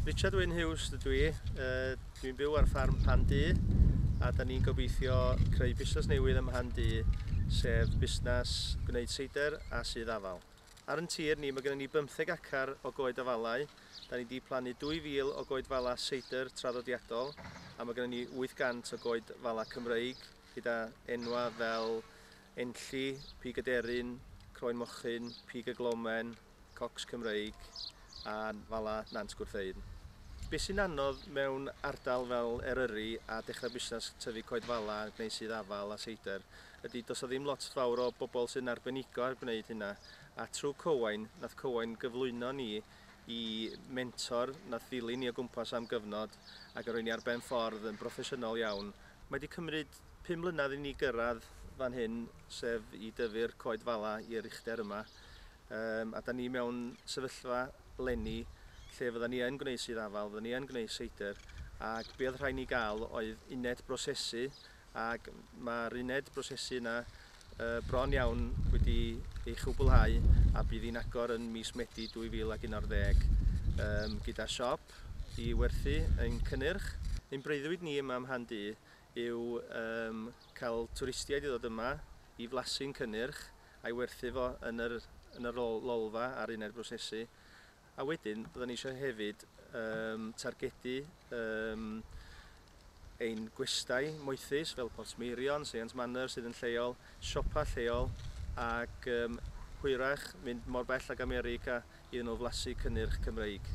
Richard Wyn Hughes dydw i. Uh, Dwi'n byw ar ffarm Pan Du a da ni'n gobeithio creu busnes newydd ym Mhan Du, sef busnes gwneud seidr a sydd afal. Ar yn tir ni, mae gennym ni 15 acar o goed afalau. Da ni wedi plannu 2,000 o goed fala seidr traddodiadol a mae gennym ni 800 o goed fala Cymreig gyda enwa fel Enlli, pig aderyn, croen mochyn, pig y glomen, cocs Cymreig a fala Nant Gwrtheyrn. Be sy'n anodd mewn ardal fel Eryri a dechrau busnes tyfu coed fala neu sudd afal a seidr ydy does 'na ddim lot fawr o bobl sy'n arbenigo ar gwneud hynna a trwy Cywain nath Cywain gyflwyno ni i mentor nath ddilyn ni o gwmpas am gyfnod ac yn rhoi ni ar ben ffordd yn broffesiynol iawn. Mae 'di cymryd Pum mlynedd i ni gyrraedd fan hyn, sef i dyfu'r coed fala i'r uchder yma. Um, a da ni mewn sefyllfa lenni lle fydda ni yn gwneud sydd afal, fydda ni yn gwneud seidr, ac be oedd rhaid ni gael oedd uned brosesu, ac mae'r uned brosesu yna uh, bron iawn wedi ei chwblhau a bydd hi'n agor yn mis Medi 2011 um, gyda siop i werthu ein cynnyrch. Ein breuddwyd ni yma ym Mhandu yw cael twristiaid i ddod yma i flasu'n cynnyrch a'i werthu fo yn yr yn yr lolfa a'r uned brosesu a wedyn byddwn ni eisiau hefyd targedu ein gwestai moethus fel Port Meirion, Seiant Manor sydd yn lleol, siopa lleol ac hwyrach mynd mor bell ag America iddyn nhw flasu cynnyrch Cymreig.